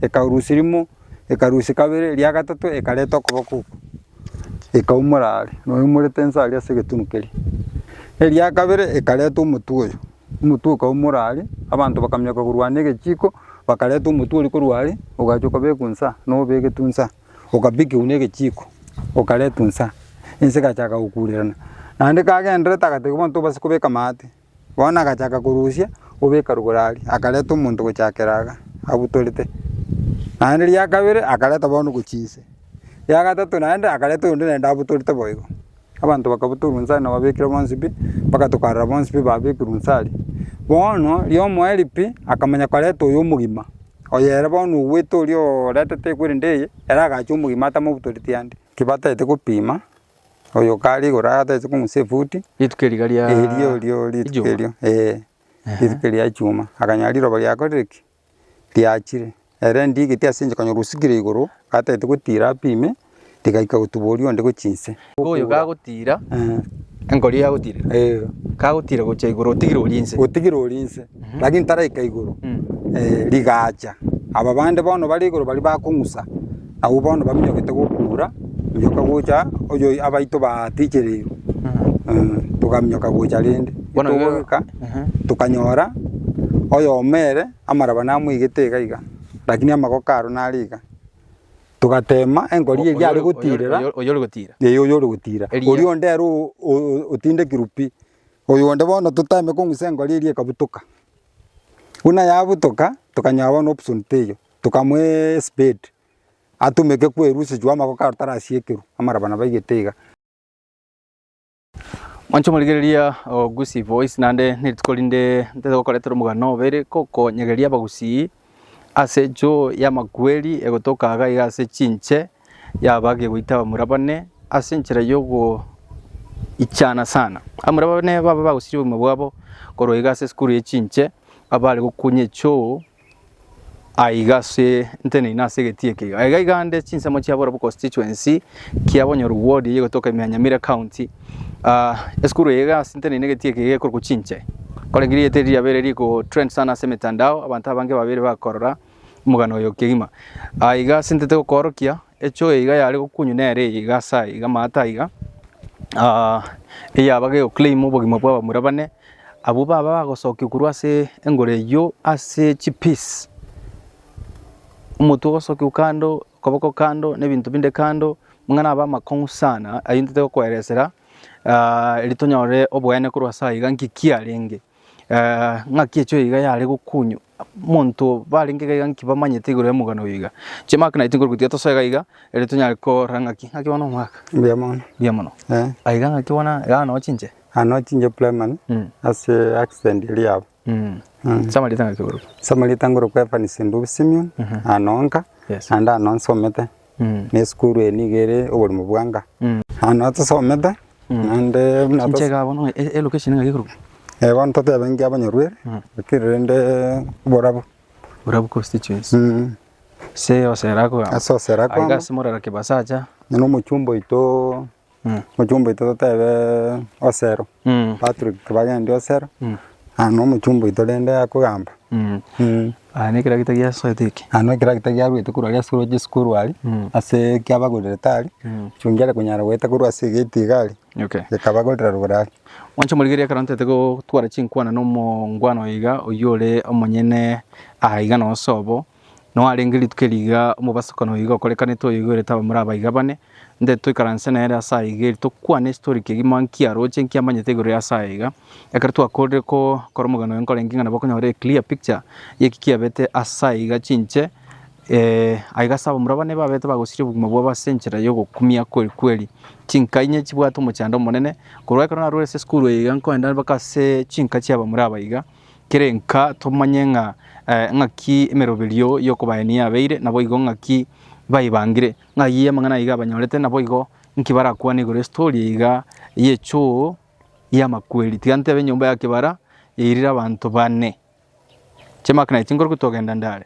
ekarusia rimo, ekarusia kabere, eria gatato ekareta okoboko okwo, ekaumora aria, noyoumorete inse aria ase egetunu keria. Eria kabere ekareta omotwe oyo, omotwe okaumora aria, abanto bakamioka korwa ande egechiko, bakareta omotwe oria korwa aria, ogachia okabekwa inse aa, nobegetwe inse aa, okabikiwa na egechiko, okaretwa inse aa, ense egachaka gokurerana. Naende kagendererete agatebiwa abanto base kobeka amaate. Bono agachaka korusia obeka rugoro aria, akareta omonto gochakera iga abutorete. Naende ria kabere akareta bono gochia inse, ria gatato naende akareta oyonde naende abutorete bo igo. Abanto bakabutorwa inse aria na babekire bonsi pi, mpaka tokarora bonsi pi babekirwe inse aria. Bono riomo erio pi, akamanya koreta oyo omogima, oyo ere bono ogwete oria oretete ekwe rende eye, ere agacha omogima atamabutoreti ande. Ki batagete gopima Oyo kare igoro aa atagete komusa efuti. Rituko eri riga ria. Erio erio rituko erio ee. Rituko ria chuma akanyora riroba riakorire ki? Riachire. Ere ndigeti ase enchera kanyora osikire igoro atagete gotira apime rigaika gotuba oria onde gochia inse. Igo oyo kagotira enkori yagotira. Kagotira gochia igoro otigire oria inse. Otigire oria inse. Mhm. lakini taraika igoro Mm. eh, rigacha aba bande bono bare igoro bari bakong'usa nabo bono baminyokete gokura minyoka gocha oyo abaito batichereirwe Mhm. Eh, tokaminyoka gocha rende Bono igo- togoika Mhm. tokanyora oyomo ere amaraba namoigete iga iga lakini amagoko aro nare iga togatema enkori Oyo- eria are oyo- oyo- gotirera oyo- Oyo ore gotira. eye oyo ore gotira Eria. oria onde aro o- o- otindekirwe pi Oyonde bono totame kong'usa engori eria ekabutoka, buna yabutoka tokanyora bono option teiyo, tokamoa espade atumeke kwerusechwa amagoko kare tarasiekerwa amaraba nabo aigete iga. Mwanche morigereria ogusii boys naende nerituko rinde ntete gokoretera omogano obo ere kokonyegeria abagusii Ase enchoo y'amakweri egotoka iga iga ase chinche yaba gegoita abamura bane ase enchera y'ogoichana sana. Abamura bane baba bagosiria obogima bwabo korwa iga ase esukuru ye chinche abare gokunya echoo aiga ase nteneine ase egetii eke iga. Iga iga ande chinsemo chiaborobwo constituency kia Bonyoro ward eye egotoka Imyanyamire county Aah esukuru eye igasinteneine egeti eke gekorokwa Chinche. Korende rieta eri riabeire rigotrend sana ase emetandao, abanto abange babeire bakorora omogano oyo kegima. Aah iga asintete gokoorokia, echoo eye iga yare gokunywa nere eye iga ase aya iga amaate aya iga, aah eyabaga egoclaim obogima bwa abamura bane, abwo baba bagosokia korwa ase engoro eywo ase chipiece, omotwe ogosokiwa kando, okoboko kando, na ebinto binde kando, Ng'a nabe amakong'u sana ayio ntete gokoeresera, erio tonyore oboene korwa ase aiga, nki kiarenge? Ng'aki echo iga yare gokunywa monto barenge iga iga nki bamanyete igoro y'omogano oyo iga? Chimark naye tinkorwa gotiga tosoe iga iga erio tonyare korora ng'aki ng'aki bono omwaka. Mbuya mono. Mbuya mono. Eh. Aiga ng'aki bono iga noo chinche. Aa noo chinche primary ase accident eria yaba. Mm. Ase amarieta ng'aki korokwa? Ase amarieta nkorokwa Evans Ndubi Simeon, aa noo nka, naende aa noo nsomete. na esukuru eye nigo ere oborimo bwanka. Naende na tosomete naende buna tos- Chinchega bono e- e- location ng'aki ekorokwa? eh, bono totebe nki abanyarueri lakini rende oborabu Borabu constituency. Mm. Ase osera akogamba. Ase osera akogamba. Aiga ase morero kibasacha. Nonya na omochumba oito Omochumba oito totebe Osero, Patrick bagendia Osero, na nomochumba oito rende akogamba. Aya ne ekeragita giasoete eke. Aya ne ekeragita giaruete korwa ase esukuru ase esukuru aria, ase kiabagorire tari, chungi are konyara goeta korwa ase egate iga aria, gekabagorera rogoro aria. Mwanche morigerie ekero ntete gotwara chinkwana na omongwana oyo iga, oyio ore omonyene aa iga nonye sobo. Noarenge rituko eri iga omobasokano oyo iga okorekanete oyoigwerete abamura abaiga bane, nde toikaranse nere ase aya iga eri tokwane estory kegima nki aroche nki amanyete igoro ya ase aya iga. Ekero twakorire ko kora omogano oyo nkorenge ng'a nabo okonyora a clear picture y'eki kiabete ase aya iga chinche aiga ase abamura bane babete bagosiria obogima bwabo ase enchera ya ogokumia kweri kweri. Chinka inye chibwate omochando omonene korwa ekero narure ase esukuru eye iga nkoenda mpaka ase chinka chia abamura abaiga Kerenka tomanye ng'a ng'aki emeroberio y'okobaenia yabeire, naboigo ng'aki baebangire. Ng'ayio y'amang'ana aiga abanyorete, naboigo inki barakwane igoro y'estori eiga y'echoo y'amakweri? Tiga ntebe enyomba ya kebara yairire abanto bane. Chiamaka na chinkoro kotogenda ndare.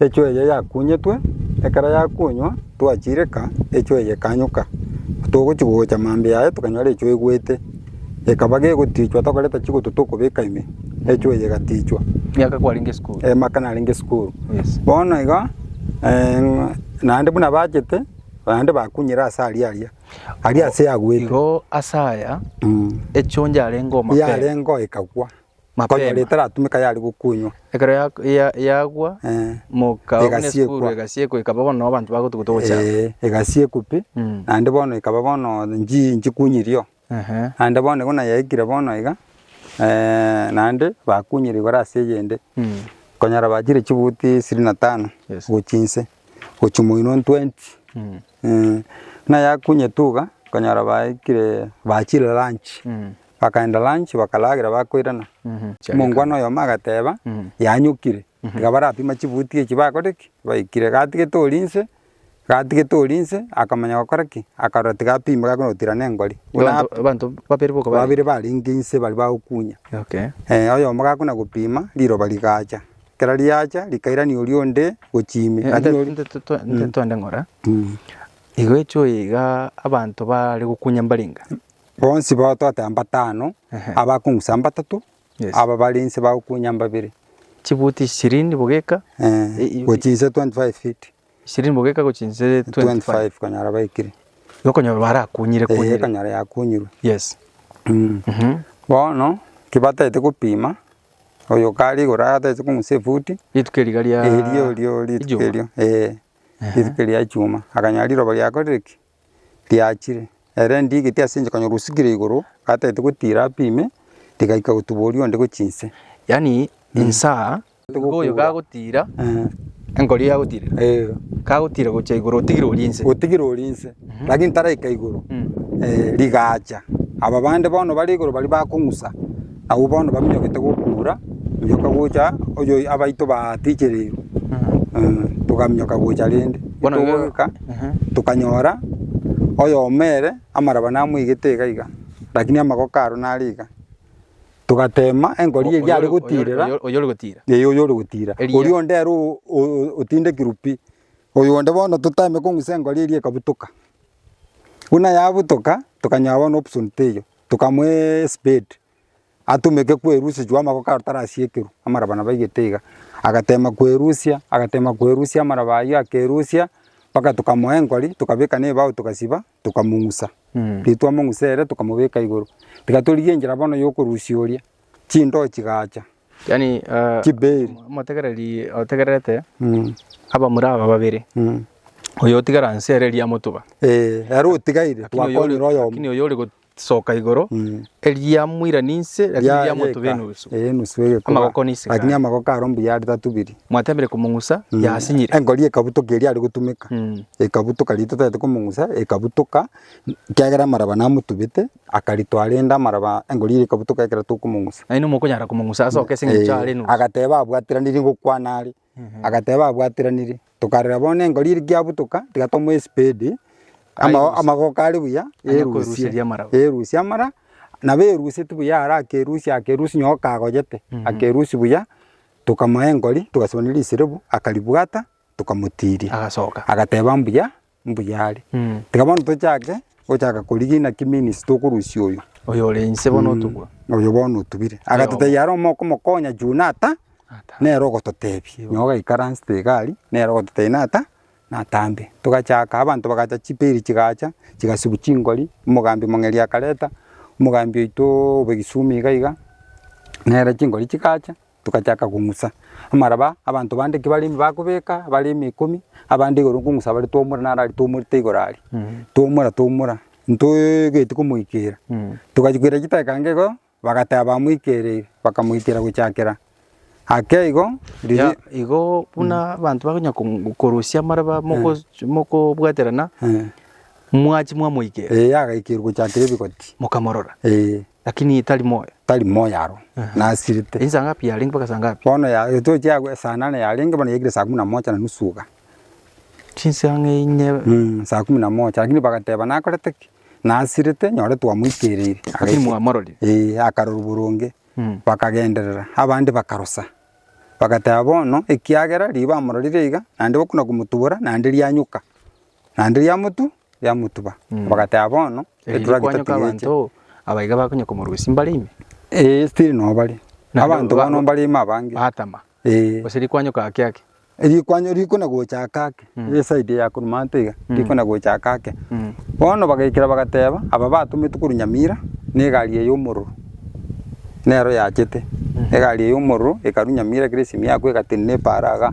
Echwa eye yakunyetwe, ekero yakunywa, twachireka, echwa eye ekanyuka. Togochi gocha mambia aye tokanyora echwa egwete, ekaba gegotichwa tokoreta chigoto tokobeka ime, echwa eye egatichwa. Miaka kwarenge esukuru. Amaka narenge esukuru. Yes. Bono iga eh, naende buna bachete, naende bakunyire ase aria aria, aria ase yagwete. Igo ase aya, Mm. echwa onde yarenge omapere. Yarenge oo ekagwa. Mapema. etaratumeka yare gokunywa. Ekero ya- ya- yagwa Eh, moka buna Egasiekwa. esukuru egasiekwa ekaba bono na abanto bagotuguta ogochia abwo. eh, egasiekwa pi, Mm. naende bono ekaba bono nchi- nchikunyirio. Ehe. Naende bono igo nayaikire bono iga, eh, naende bakunyire igoro ase eyende. Mm. Konyora bachire chibuti isiri na tano Yes. gochia inse, gochia moino 20. Mm. Eeh, buna yakunyete iga, okonyora baikire bachire lunch, bakaenda lunch bakaragera bakoirana, omongwana oyomo agateba yanyokire, tiga barapima chibuti echi bakore ki? Baikire. Iga atigete oria inse, iga atigete oria inse, akamanya gokora ki? Akarora tiga apime gakona gotirana engori. Buna Abanto abanto babere boka babere barenge inse baria bagokunya. Okay. Eeh, oyomo gakona gopima, riroba rigacha. Ekero riacha rikairania oria onde gochia ime. Lakini Nte- oria- nte- nte- nte- nte twende ng'ora Mm. igo echo iga abanto bare gokunya mbarenga bonsi bao twateba mbatano Ehe. abakong'usa mbatatu Yes. aba bare nse bagokunya mbabere chibuti ishirini bogeka Eh, i- i- gochia inse 25 feet Ishirini bogeka gochia inse 25. 25 konyara baikire Okonyora barakunyire eh, kunyire. ekonyara yakunyirwe Yes. Mm. bono kibatagete gopima oyo kare igoro agatagete kong'usa efuti Rituko eriga ria. erio rio rituko Ejuma. erio eh, rituko ria chuma akanyora riroba riakorire ki riachire, ere ndiigeti ase inche konyora osikire igoro, gatagete gotiira ape ime, rigaika gotuboria onde gochia inse. Yaani insa nigo oyo gagotiira Eh, enkori yagotiire eh, kagotiira gochia igoro otigire orie inse otigire orie inse, lakini taraika igoro, Mm. eh, rigaacha. Aba bande bono bare igoro baria bakong'usa. Abwo bono baminyokete gokuura, minyoka gocha oyo abaito batichereirwe, togaminyoka gocha rende. Bono igo- Togoika, Ehe. tokanyora oyomo ere amaraba namoigete iga iga, rakini amagoko aro nare iga. Togatema enkori eria are gotiirera, Oyo- oyo ore gotira. ee oyo ore gotira, Eria. oria onde ere o- o- otindekirwe pi. Oyo onde bono toteme kong'usa enkori eria ekabutoka. Buna yabutoka, tokanyora bono option teiyo. Tokamoa espade atumeke kwerusia chwo amagoko aro tarasiekerwa amaraba nabo aigete iga, agatema kwerusia agatema kwerusia amaraba ayio akerusia mpaka tokamoa enkori tokabeka na ebao togasiba tokamong'usa. Riria twamong'usa ere tokamobeka igoro. Tiga torigie enchera bono ya okorusia oria chindoo chigacha Yaani eh, Chibeeri. omotegereri otegererete Mm, abamura aba babere mm. oyo otigara nse ere eria motuba Eh, ere otigaire Lakini oyo ore- twakonyire oyomo lakini oyo ore gosoka igoro Mm. eria moirani nse lakini Ya- eria motuba yeka. enusu Eh, enusu egekuba. Amagoko nisikare. lakini amagoko aro mbuya ari tatubiri mwatembire komong'usa Mm. yasinyire engori ekabutoka eria ari gotumeka Mm. ekabutoka rito tete komong'usa ekabutoka kiagera amaraba namotubete Akaritwa arende amaraba, engori ere ekabutoka ekero tokomong'usa. Nainwe mokonyara komong'usa ase okesa eng'encho are nusu. Agateba abwatiraniri gokwana are, agateba abwatiraniri. Tokarora bono engori ere kiabutoka, tiga tomoe espedi, ama- amagoko are buya, Aye korusia erusie, eria amaraba. erusie amara, nabo eruseti buya ara akerusia akerusia nyo okagoyete, akerusia buya, tokamoa engori, togasibani risirebu, akaribwata, tokamotiria. Agasoka. Agateba mbuya, Mbuya are. Tiga bono tochake gochaka korigia inaki means tokorusia oyo. Oyo ore inse bono otubwa. Oyo bono otubire. Agatotebia are omo okomokonya juu nata nere ogototebia. Noo gaikaransete iga aria nere ogototebia nata natambe. Togachaka abanto bagacha chiperi chigacha chigasibwa chingori, omogambi omong'eri akareta, omogambi oito obe Kisumu iga iga nere chingori chigacha. togachaka kong'usa. Amaraba abanto bande ki barenge bakobeka bare emekomi, abande igoro nkong'usa bare twomora naro aria twomorete igoro aria. Twomora twomora ntoeegeti komoikeera. Togachia koira chidakika inga igo, bagateba bamoikereire, bakamoikera gochakera ake igo riria Ya igo buna abanto bakonya kong'u korusia amaraba mogoch mokobwaterana, mwachia mwamoikera. Ee agaikirwa gochakera ebigoti. Mokamorora. Ee. Lakini tari moyo. Tari moyo aro, nasirete. Ensa ngapi yarenge mpaka saa ngapi? Bono ya, etochi ya esaa nane yarenge, bono yaikire saa kumi na mocha na nusu iga. Chinsa ng'a inye. Mm, saa kumi na mocha. Lakini bagateba, nakorete ki? Nasirete, nyore twamoikereire. Lakini Agaike- mwamororire. Eh, akarorwa boronge. Mm. Bakagenderera, abande bakarosa. Bagateba bono, ekiagera riria bamororire iga, naende bakona komotubora, naende rianyuka. Naende riamotu, riamotuba. Bagateba bono, Erinde eturakita kwanyoka tigeche. abanto aba iga bakonye komorusia mbare ime. Ee, still noo bare. Naende Abanto ba- bono mbare ime abange. Batama. Ee. Gose rikwanyoka ake ake. Rikwanyo rikona gocha ake ake, ere eside ya korwa manto iga, rikona gocha ake ake. Mm. Bono bagaikera bagateba, aba batometwe korwa Nyamira, na egari eye y'omororo, nero yachete. Egari eye y'omororo ekarwa Nyamira kera esimi yakwa egatenena epaara iga.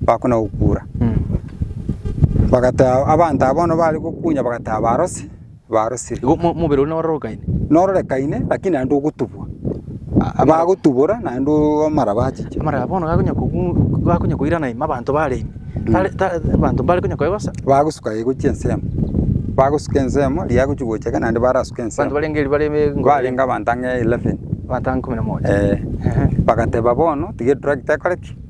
bakona gokura. Bagata abanto aba bono bare gokunya bagata barose, barosire. Igo mo- mobere one ororokaine. Nororekaine lakini naende ogotubwa. Bagotubora naende oo amaraba achiche. Amaraba bono gakonya kobu gakonya koirana ime abanto bare ime. Tare ta abanto mbare konya koegosa. Bagosuka igo chiensemo, bagosuka ensemo riria agochia gocheka naende barasuke Abanto ensemo. barenge eria bare be Barenge abanto ang'e eleven. abanto ang'e ikomi na moja. Eeh. Ehe. Bagateba bono tiga etractor ekore ki?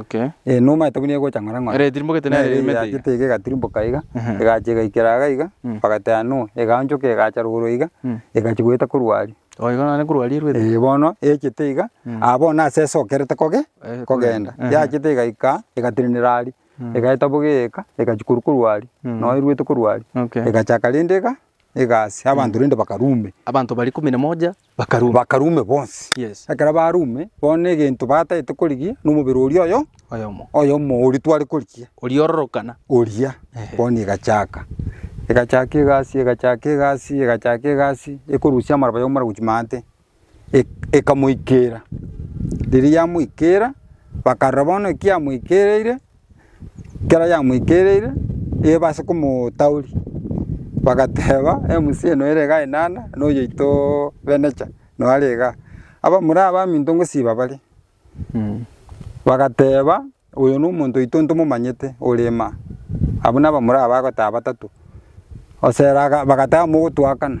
Okay. Eh, numa etabu nigo egocha ng'ora ng'ora. Ere etirimbogete nere Nere erimete iga. eyachete iga egatirimboka iga, Ehe. egacha egaikera iga iga, Mm. bagatea nua, egaonchoka egacha rogoro iga, Mm. egachi goeta korwa aria. Oh, igo nane korwa aria erwete. Eh, bono eyachete iga, Mm. ah, bono ase esokerete koge, Eh, kogenda. kogenda. Ehe. Yachete egaika, egatenenera aria, Mm. egaeta boga eeka, egachi korwa korwa aria, Mm. noe erwete korwa aria. Okay. Egachaka rende iga, egasi, abanto rende bakarume. Abanto baria ikomi na moja. Bakaruma. bakarume bonsi. Yes. Ekero barume, bono egento batagete korigia nomobere oria oyo Oyomo. oyomo oria tware korigia Oriororokana. oria Ehe. bono egachaka egachaka egasi egachaka egasi egachaka egasi ekorusia amaraba yomora gochia maate Ek- ekamoikera riria yamoikera bakarora bono ekiamoikereire. ekero yamoikereire eba ase komotauri, bagateba MC eye noyo ere igaa enana, na oyoito Benecha noyo are igaa. Abamura abaminto ngosiba bare, bagateba oyo na omonto oito ntomomanyete ore ime aa. Abwo na abamura aba bagoteba batato, osera aga, bagateba mogotuakana.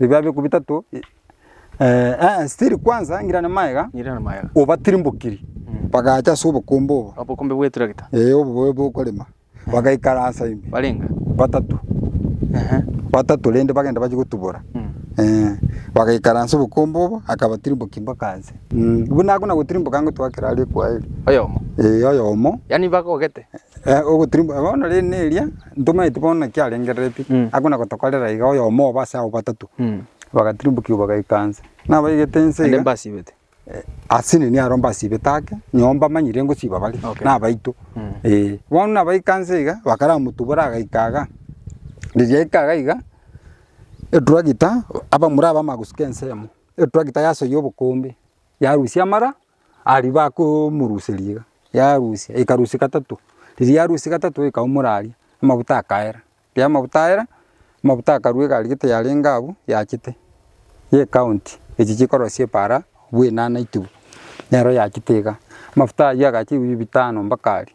Ebibabi eku bitato e- eh, eh, still kwanza ngirane maega, Ngirane maega. obatirimbokiri bagacha ase obokombe obo, Obokombe bw'eturakita. eh, obo bobe bokorema, bagaikara ase ime, Barenga. batato, Ehe. batato rende bagenda bachia gotubora, Mm. eh, bagaikara ase obokombe obo, akabatirimbokiri mpaka nse. Mm, buna akona gotirimboka ngotwakera aria ekweri, Oyomo. eh, oyomo, Yaani bagogete. Bono rende eria ntomanyeti bono naki arengereretie akona gotokorera iga oyomo obo ase abwo batato bagatirimbokiwa bagaika nse. Nabaigete nse iga. Naende mbasibete. Ase nenia aro mbasibete ake noo mbamanyire ngosiba bare nabaito eh. Bono nabaika nse iga bakaramotubore agaika iga riria aika iga iga etragita abamura abamanya gosuka ensemo etragita yasoyia obokombe yarusia amara. Aria bakomoruseria iga, yarusia, ekarusia gatato, riria yarusia gatato ekaumora aria, amabuta akaera, riria amabuta aera, amabuta akarua egari gete yarenge abwo yachete, y'ecounty, echi chikorosia epara bwena naitibu, nero yachete iga, amafuta aywo agacha ebiyu bitano mpaka aria,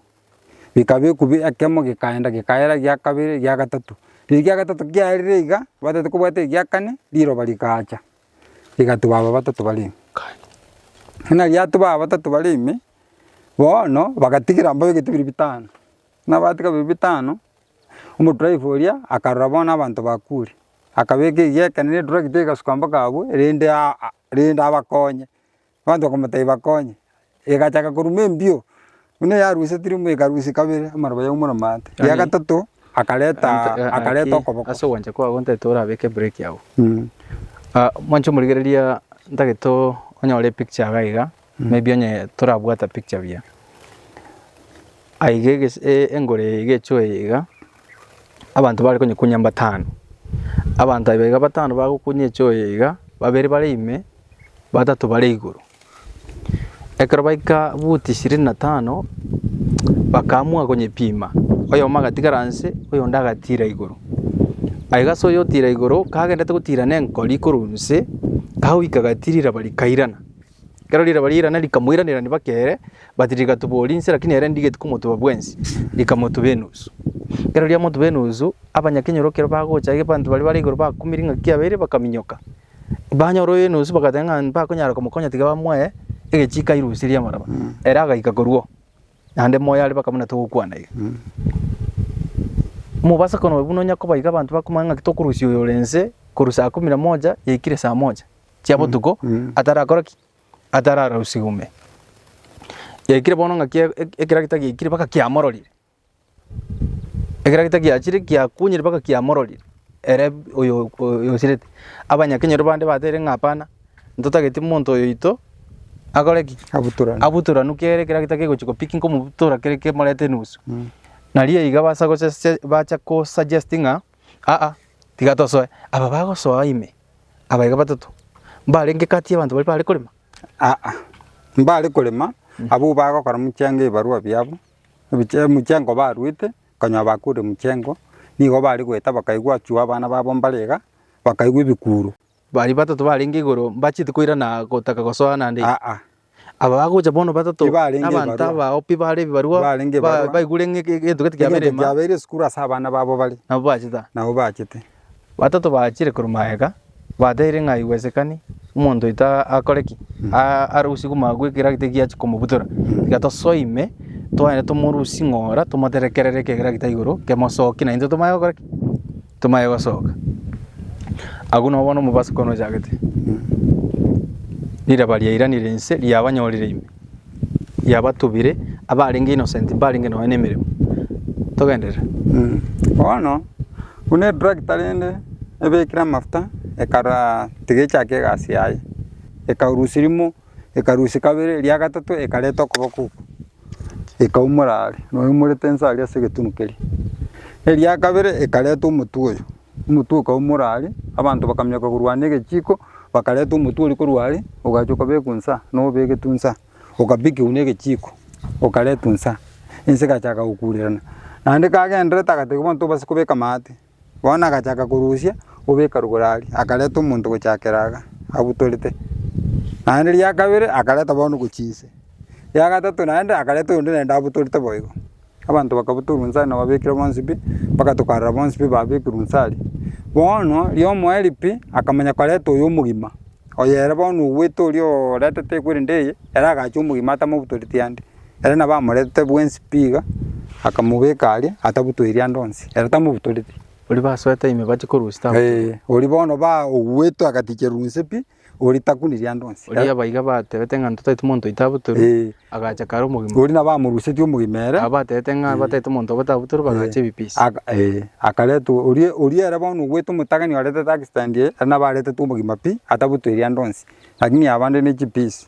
bikabekwa bi ekemo gekaenda gekaera egia kabere egia gatato, riria egia gatato kiaerire iga, tibataete kobwata egia kane, riroba rikaacha. egati baba batato bare ime. Buna riato baba batato bare ime, bono bagatigera mboyo egete biri bitano. Buna batiga biri bitano, omodriver oria akarora bono abanto bakure, akabeka egia ekero ne etractor egasuka mpaka abwo, rende aa rende abakonye. Abanto bakamotebia bakonye, egachaka koruma embio, buna yarusetire embio ekarusia kabere amaroba yaumora amaate. Ria Yaani- gatato akareta Ant- a- akareta naki okoboko. ase ogwancha kwabo ntagete orabeke break agwo Mm. Ah, mwanche omorigereria ntagete o- onyore epicture iga iga maybe onye torabwata picture buya aiga egese e- engoro eye iga echoe iga. abanto bare konyekunya mbatano. Abanto aye iga batano bagokunya eche oyo iga, babere bare ime, batato bare igoro. Ekero baika buti ishirini na tano, bakaamua konyepima, oyomo agatigara nse, oyonde agatira igoro. Aye iga ase oyo otira igoro, kagenderete gotira na enkori korwa nse, kagoika gatirire bari kairana. Ekero riraba ri'irana rikamoiranereria bake ere, but rigatoboria inse, lakini ere ndigeti komotuba bwensi, rikamotuba enusu. Ekero riamotuba enusu, abanyakenyoro ekero bagocha aye abanto baria bare igoro bakumire ing'aki yabeire bakaminyoka. Banyora oyo enusu bagateba ng'a mbakonyara komokonya tiga bamoe egechiiko airusirie amaraba. Ere agaika korwa oo, naende moyo are baka buna togokwana iga. Mobaso kono buna onye koba iga abanto bakomanya ng'aki tokorusia oyo ore inse korwa saa kumi na moja yaikire saa moja. chia botuko atarakora ki? Atararausigwe ime. Yaikire bono ng'aki e- e- ekeragita giaikire mpaka kiamororire. Ekeragita giachire giakunyire mpaka kiamororire ere b- oyo oyo osirete. Abanyakenyoro bande batebirie ng'a hapana, ntotageti monto oyo oito akore ki? Abutorane. Abutoranu kere ekeragita kegochi kopick nkomobutora kere kemorete enusu. Nario iga basa gosesie bacha kosuggest ng'a aa tiga tosoe, aba bagosoa ime. Abaika batato mbarenge kati y'abanto baria baare korema? Aa, mbaare korema, abwo bagokora mochengo ebibarua biabo, ebiche- emochengo baruete, okonyora bakuure mochengo, nigo baare goeta bakaigwa achwo abana babo mbare iga, bakaigwa ebikuuro. Baria batato barenge igoro mbacheti koirana gotaka gosoa naende? Aa, Aba bagocha bono batato Tibarenge n'abanto ebibarua. abao pi bare ebibarua Barenge ba- ebibarua. baigure ng'a ege- egento gete kiabeire egento ema kiabeire esukuru ase abana babo bare, nabo bachete aa. nabo bachete. Batato bachire korwa magega batebirie ng'a aiwesekani omonto oito a- akore ki? A- arusie koma gwekera gete giachia komobutora. Tiga tosoe ime twende tomorusie ng'ora tomoterekerere ekegera gete igoro kemosokie naintwe tomanye gokora ki? Tomaye gosoka. Agwo nabo bono omobaso kono ochagete. Riraba riairanire inse riabanyorire ime. Riabatubire abarenge innocent mbarenge nonya nemeremo. Togenderere. Bono buna etractor rende ebekire amafuta ekarora tiga echake egasi yaye. Ekarusia rimo. ekarusia kabere eria gatato ekareta okoboko okwo ekaumora are noyoumorete inse aria ase egetunu keria. Eria kabere ekareta omotwe oyo, omotwe okaumora are abanto bakaminyoka korwa are na egechiko bakareta omotwe oria korwa are ogachia okabekwa inse aa nobegetwe inse aa okabikiwa na egechiko okaretwa inse aa ense egachaka gokurerana naende kagendererete agatebiwa abanto base kobeka amaate. Bono agachaka korusia obeka rugoro aria, akareta omonto gochakera iga abutorete. Naende ria kabere akareta bono gochia inse, ria gatato naende akareta oyonde naende abutorete boigo. Abanto bakabutorwa inse aria na babekire bonsi pi, mpaka tokarora bonsi pi babekirwe inse aria. Bono ria omoerio pi, akamanya koreta oyo omogima, oyo ere bono ogwete oria oretete ekweri eye, ere agacha omogima atamabutoreti ande. Ere nabo amoretete bwensi pi iga, akamobeka aria atabutoiri ande onsi, ere tamobutoreti. Oria basoete ime bache korwa ase tabutoiri. Ee, oria bono baoguetwe agatikerwa inse pi, oria takuniri ande onsi. Oria abaiga batebete ng'a ntotaeti monto oito abutorwe, Ee, agacha kare omogima. oria nabo amorusetie omogima ere. Aba batebete ng'a bataeti omonto obote abutorwe bagacha ebipisi. Aka- ee, akaretwa oria oria ere bono oguete omotagani oretete accident eye, ere nabo aretetwe omogima pi, atabutoiri ande onsi, lakini abande ne chipisi.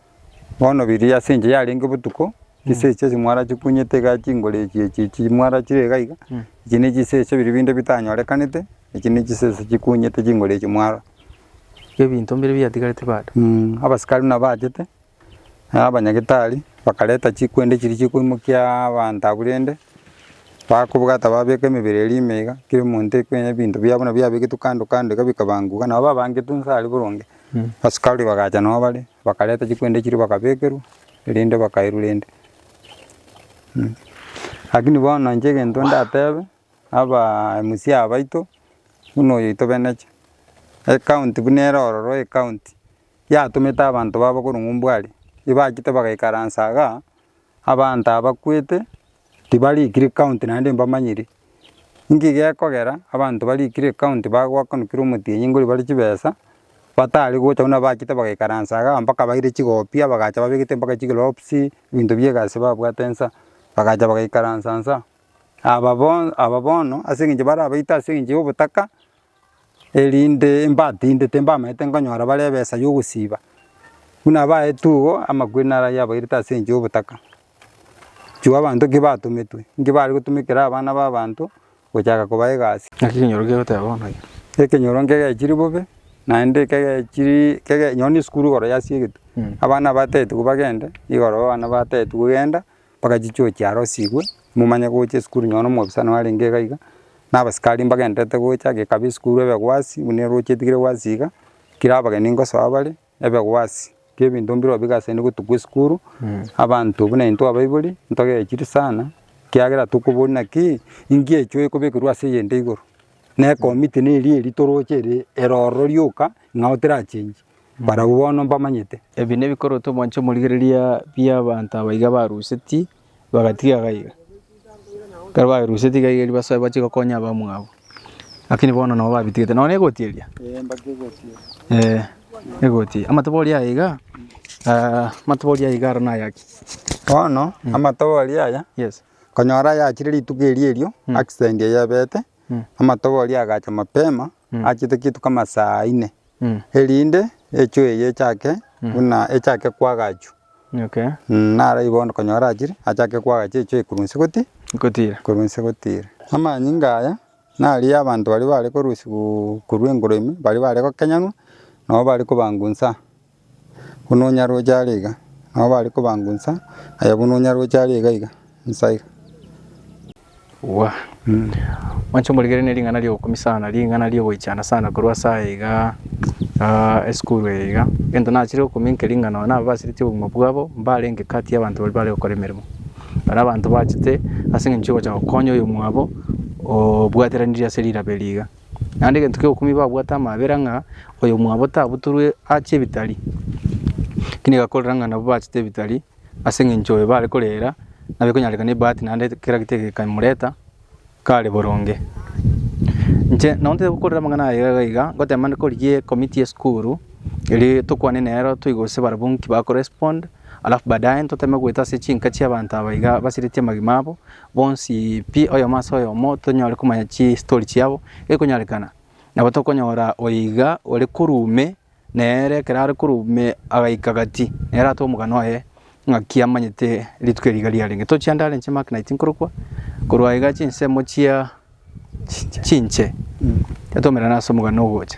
Bono riria ase enchera yarenge botuko, chisesa echio mwarachi kunyete iga chinguru echi echi echi mwarachire iga iga, echi ne chisesa biri binde bitanyorekanete, echi ne chisesa chikunyete chinguru echi mwarora. Ebinto mbire biatigarete bado. Abasikari buna bachete, na abanyagitari, bakareta chikwende chiria chikoimokia abanto abwo rende, bakobwata babeka emebere eria ime iga, kera omonto ekwenya ebinto biabo buna biabegetwe kando kando iga bikabanguka, nabo babangetwe inse aria boronge. Asikari bagacha nao bare, bakareta chikwende chiria bakabekerwa, erinde bakairwe rende. Lakini bono inche egento ndatebe, abaa MC abaito, buna oyo tobeneche, ecounty buna ere ororo ecounty, yatomete abanto babo korwa ng'umbu aria, ebachete bagaikaransa igaa, abanto aba bakwete, Tibarikire ekaunti naende mbamanyire, inki gekogera abanto barikire ekaunti bagoakanukire omotienyi ngori bare chibesa, batari gocha buna abachete bagaikaransa igaa mpaka baire chigopia bagacha babegete mpaka chiglobsi, ebinto bie egasi babwate nsa, bagacha bagaikaransa nsa. Aba bono aba bono ase eng'encho barabaite ase eng'encho ya obotaka, erinde mbatindete mbamaete nkonyora bare ebesa yogosiba, buna abaeto igo amakweri naro ayio abairete ase engencho yobotaka, chio abanto ki batometwe, nki bare gotumekera abana b'abanto gochaka kobaa egasi. Naki ekenyoro kegoteba bono eke. Ekenyoro nkegechiri bobe, naende kegechiri kege nonya na esukuru igoro yasiegete, abana batetiwu bagende, igoro abana batetiwu genda, mpaka chichuo chiarosigwe, momanye gocha esukuru nonye na omwofisa noyo arenge iga iga, na abasikari mbagendererete gocha, age ekaba esukuru ebe egwasi, buna eroche etigire egwasi iga, ekero abageni ngosoa bare, ebe egwasi, ki ebinto mbirobio bigasaini gotugwa esukuru, abanto buna intwe abaibori, ntogechiri sana, ekiagera tokoboria naki, inki echio ekobekerwa ase eyende igoro, na ekomiti neri eri toroche ere ero ororo rioka, ing'ao terachengi. Barabwo bono mbamanyete. Ebi nebikorotwe mwanche omorigereria bi'abanto aba iga baruseti bagatiga gaiga. Ekero barusetie gaiga erio basoe bache gokonya abamwabo. Lakini bono nabo babitigete nonya negoti eria? Ee egoti eria. Amatoba oria aya iga amatoba oria iga aro naya ki? Bono amatoba oria aya Yes. konyora yachire rituko eria erio accident eyebete amatoba oria agacha mapema achete kituko amasaa ine. erinde echwe eye echake buna echake kwagachwa. Naro igo konyora achire achake kwagacha echwe eye korwa inse gotira, korwa inse gotira. Amanyinga aya nariaa abanto baria bare korusigwa korwa engoro ime, baria bare gokenyanwa, nabo bare kobangwa inse aa. buna onyaroche are iga, nabo bare kobangunsa, aye buna onyaroche are iga iga, nsa iga. Gwa. Mwanche omorigeranie ring'ana ri'ogokumia sana, ring'ana ri'ogoichana sana korwa ase aye igaa, aa esukuru eye iga. Egento nachire gokumia inke ring'ana nonye nababasiretie obogima bwabo, mbare inke kati y'abanto baria bare gokora emeremo. Baria abanto bachete ase eng'encho ya ogocha gokonya oyomwabo obwateranirie ase rirobe eri iga. Naende egento ki'obokumia babwate amaabera ng'a oyomwabo tabutorwe aachie ebitari, ekio nigakorera ng'a nabwo bachete ebitari ase eng'encho oyo bare korera nabo ekonyarekana ebahati naende kera gete egekamoreta kare boronge. Inche nabo ntari gokorera amang'ana aya iga iga, ngoteema korigia ecommittee y'esukuru eria tokwane nero toigwe gose barabwo nki bakorespond alafu baadaye ntoteme goeta ase chinka chi'abanto aba iga basiretie amagima abo. Bonsi pi oyomo ase oyomo tonyare komanya chistori chiabo gekonyarekana. Nabo tokonyora oiga ore korwa ime nere ekero are korwa ime agaika gati nere atwe omogano oye ng'aki amanyete rituko eri iga riarenge. Tochia nda are inche Mark Knight nkorokwa, korwa aiga chinsemo chia chinche twatomera ase omogano ogocha.